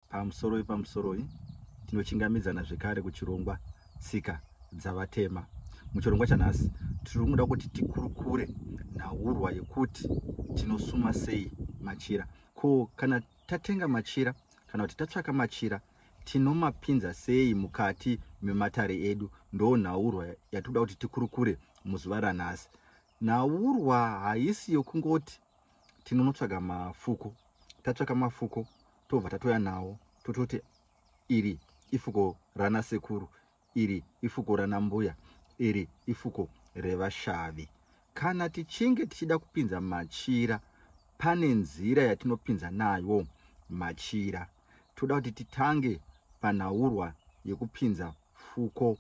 Pamusoro wepamusoro uyu, tinochingamidzana zvekare kuchirongwa Tsika dzaVatema. Muchirongwa chanhasi, tiri kuda kuti tikurukure nhaurwa yekuti tinosuma sei machira. Ko kana tatenga machira kana kuti tatsvaka machira tinomapinza sei mukati mematare edu? Ndoo nhaurwa yatiri kuda kuti tikurukure muzuva ranhasi. Nhaurwa haisi yokungoti tinonotsvaga mafuko tatsvaka mafuko tobva tatoya nawo tototi iri ifuko rana sekuru iri ifuko rana mbuya iri ifuko revashavi kana tichinge tichida kupinza machira pane nzira yatinopinza nayo machira toda kuti titange panhaurwa yekupinza fuko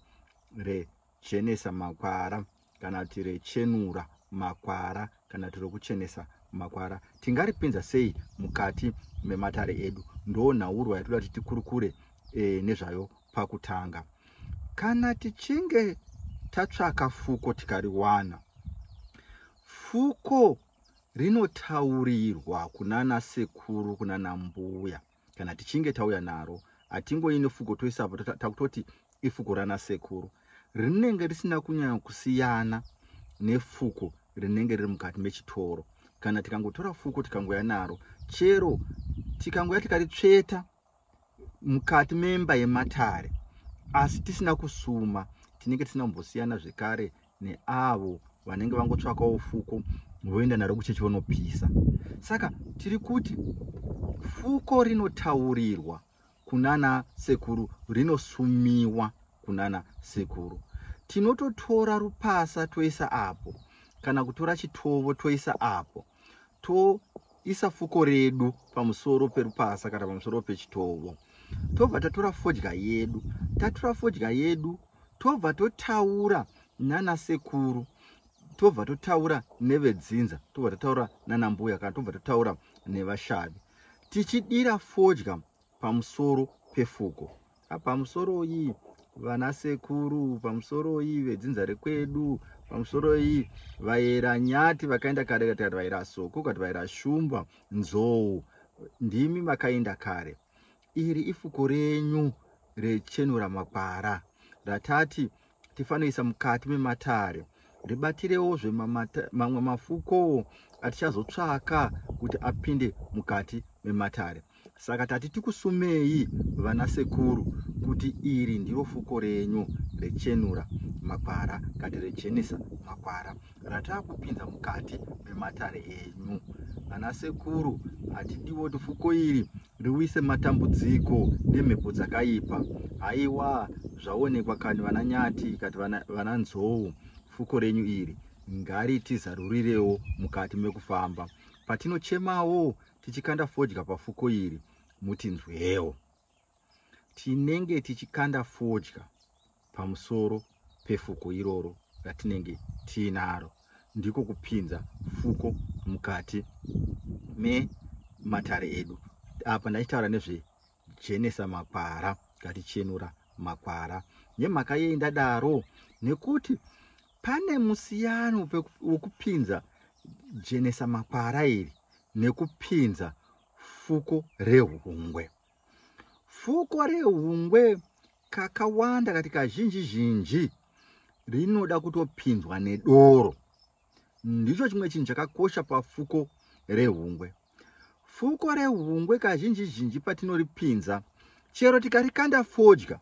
rejenesa makwara kana kuti rechenura makwara kana kuti rokuchenesa makwara tingaripinza sei mukati mematare edu ndoo nhaurwa yatoda kuti tikurukure e, nezvayo pakutanga kana tichinge tatsvaka fuko tikariwana fuko rinotaurirwa kunana sekuru kunana mbuya kana tichinge tauya naro hatingoyi nefuko toisapo takutoti ifuko rana sekuru rinenge risina kunyanya kusiyana nefuko rinenge riri mukati mechitoro kana tikangotora fuko tikangoya naro chero tikangoya tikaritsveta mukati memba yematare asi tisina kusuma tinenge tisina kumbosiyana zvekare neavo vanenge vangotsvakawo fuko voenda naro kuchechi vonopisa saka tiri kuti fuko rinotaurirwa kunana sekuru rinosumiwa kunana sekuru tinototora rupasa toisa apo kana kutora chitovo toisa apo toisa fuko redu pamusoro perupasa kana pamusoro pechitovo tobva tatora fodya yedu tatora fodya yedu tobva totaura nana sekuru tobva totaura nevedzinza tobva totaura nana mbuya kana tobva totaura nevashavi tichidira fodya pamusoro pefuko pamusoroi vana sekuru pamusoroi vedzinza rekwedu pamusoroi vaera nyati vakaenda kare kati kati vaera soko kati vaera shumba nzou ndimi makaenda kare iri ifuko renyu rechenura makwara ratati tifanoisa mukati mematare ribatirewozve mamwe mafukowo atichazotsvaka kuti apinde mukati mematare saka tati tikusumei vana sekuru kuti iri ndiro fuko renyu rechenura makwara kati rechenisa makwara rataakupinza mukati mematare enyu vana sekuru hatidiwo tifuko iri Ndiwise matambudziko nemhepo dzakaipa. Haiwa zvaonekwa kani vana Nyati kati vana, vana Nzou fuko renyu iri ngaritizarurirewo mukati mekufamba patinochemawo tichikanda fodya pafuko iri mutinzwewo. Tinenge tichikanda fodya. pamusoro pefuko iroro ratinenge tiinaro, ndiko kupinza fuko mukati mematare edu. Apa ndachitaura nezve jenesa makwara ngatichenura makwara nemhaka yei ndadaro nekuti pane musiyano wekupinza jenesa makwara iri nekupinza fuko rehungwe Fuko rehungwe kakawanda kati kazhinji zhinji rinoda kutopinzwa nedoro. Ndicho chimwe chinhu chakakosha pafuko rehungwe. Fuko rehungwe kazhinji zhinji patinoripinza chero tikarikanda fodya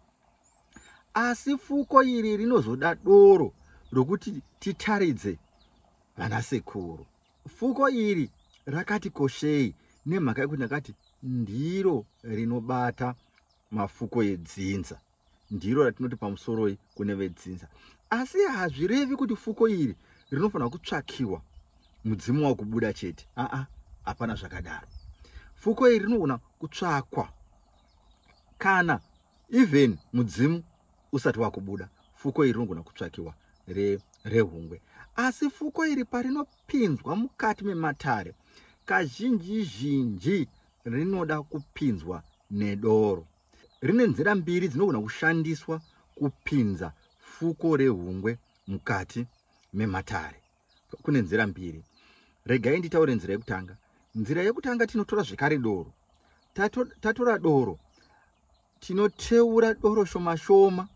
asi fuko iri rinozoda doro rokuti titaridze vana sekuru. Fuko iri rakati koshei nemhaka yekuti ndakati ndiro rinobata mafuko edzinza ndiro ratinoti pamusoroi kune vedzinza asi hazvirevi kuti fuko iri rinofanira kutsvakiwa mudzimu wakubuda chete aa hapana zvakadaro fuko iri rinogona kutsvakwa kana even mudzimu usati wakubuda fuko iri rinogona kutsvakiwa rehungwe re asi fuko iri parinopinzwa mukati mematare kazhinji zhinji rinoda kupinzwa nedoro rine nzira mbiri dzinogona kushandiswa kupinza fuko rehungwe mukati mematare Kune nzira mbiri. Regai nditaure nzira yekutanga. Nzira yekutanga tinotora zvekare doro. Tato, tatora doro tinoteura doro shoma shoma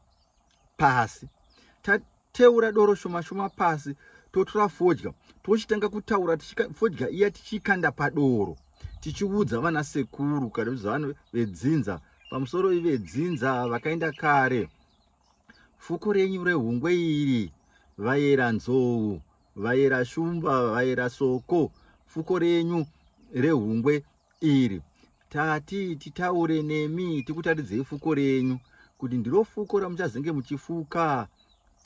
pasi. Tateura doro shoma shoma pasi totora fodya tochitanga kutaura fodya iya tichikanda padoro tichiudza vana sekuru kana kuti vanhu vedzinza pamusoro ivedzinza vakaenda kare Fuku renyu rehungwe iri vayera nzou vayera shumba vayera soko fuko renyu rehungwe iri tati titaure nemi tikutaridzei fuko renyu kuti ndiro fuko ramuchazenge muchifuka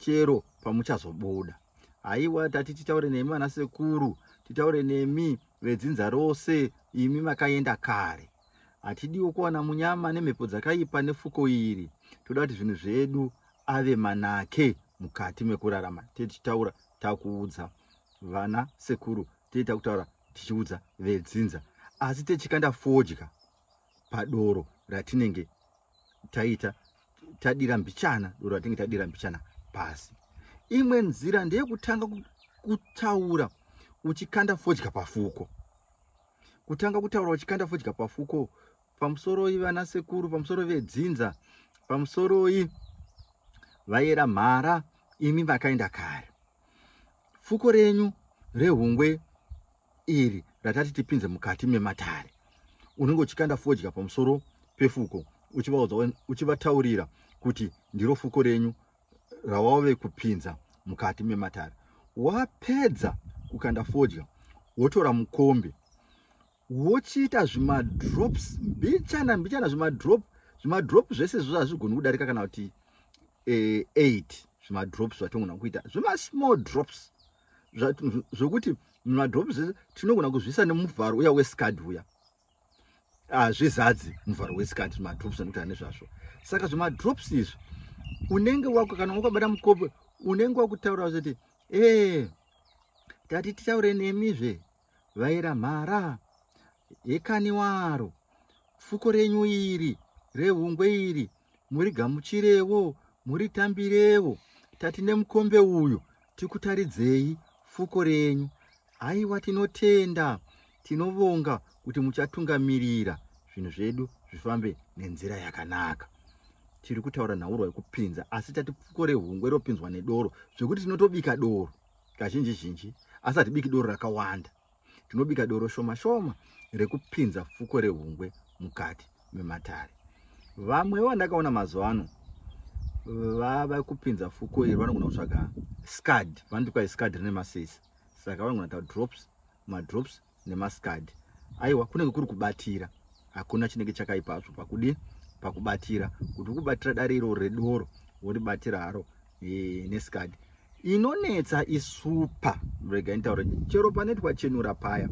chero pamuchazobuda haiwa tati titaure nemi vana sekuru titaure nemi vedzinza rose imi makaenda kare Hatidiwo kuwana munyama nemhepo dzakaipa nefuko iri. Toda kuti zvinhu zvedu ave manake mukati mekurarama. Tee tichitaura takuudza vana sekuru, tee takutaura tichiudza vedzinza. Asi techikanda fodya padoro ratinenge taita tadira mbichana, doro ratinenge tadira mbichana pasi. Imwe nzira ndeyekutanga kutaura uchikanda fodya pafuko. kutanga kutaura uchikanda fodya pafuko pamusoroi vana sekuru pamusoro vedzinza pamusoroi vayera mhara imi vakaenda kare fuko renyu rehungwe iri ratati tipinze mukati mematare unenge uchikanda fodya pamusoro pefuko uchivataurira kuti ndiro fuko renyu rawave kupinza mukati mematare wapedza kukanda fodya wotora mukombe wochiita zvimadrops mbichana mbichana zvimadrop zvimadrop zvese zvo hazvigoni kudarika kana kuti eh, eight zvimadrops zvatinogona kuita zvemasmall drops zvokuti zva, zvimadrops zvese tinogona kuzviisa nemuvharo uya wescad uya hazvizadzi ah, muvharo wesikati madrops anoita ane zvazvo saka zvemadrops izvi unenge wako kana wakabata mukope unenge wakutaura kuti ee eh, tati titaure nemizve vaira mhara hekani waro fuko renyu iri rehungwe iri murigamuchirevo muritambirevo tati nemukombe uyu tikutaridzei fuko renyu haiwa tinotenda tinovonga kuti muchatungamirira zvinhu zvedu zvifambe nenzira yakanaka tiri kutaura nhaurwa yekupinza asi tati pfuko rehungwe ropinzwa nedoro zvekuti tinotobika doro kazhinji zhinji asi hatibiki doro rakawanda Tinobika doro shoma shoma rekupinza fuko rehungwe mukati mematare. Vamwewo vandakaona mazuva ano vava kupinza fuko iri vanogona kutsvaga scad, vanoti kwai scad rine masesi, saka vanogona ta drops, madrops nemascad. Aiwa kunenge kuri kubatira, hakuna chinenge chakaipa zvo pakudi pakubatira kuti ukubatira dare iro redoro woribatira haro e, nesikadi inonetsa isupa rega nitaure chero pane twachenura paya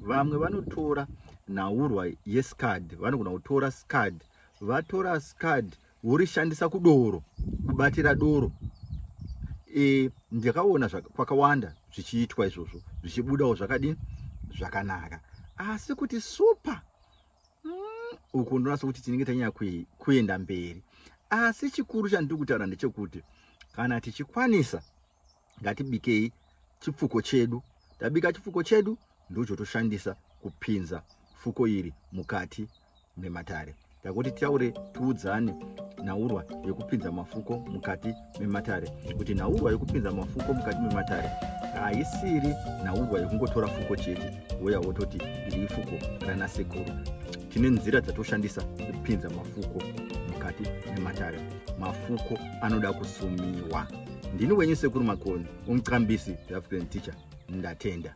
vamwe vanotora nhaurwa yescad vanogona kutora scad vatora scad vorishandisa kudoro kubatira doro e, ndakaona kwakawanda zvichiitwa izvozvo zvichibudawo zvakadini zvakanaka asi kuti super mm, uku ndonasa kuti tinenge tanyanya kuenda mberi asi chikuru chandiri kutaura ndechekuti kana tichikwanisa ngatibikei chipfuko chedu tabika chipfuko chedu ndochotoshandisa kupinza fuko iri mukati mematare takuti taure tiudzane nhaurwa yekupinza mafuko mukati mematare kuti nhaurwa yekupinza mafuko mukati mematare haisiri nhaurwa yekungotora fuko chete woya wototi iri ifuko rana sekuru tine nzira dzatoshandisa kupinza mafuko mukati mematare mafuko anoda kusumiwa ndini wenyu sekuru makoni umucambisi the african teacher ndatenda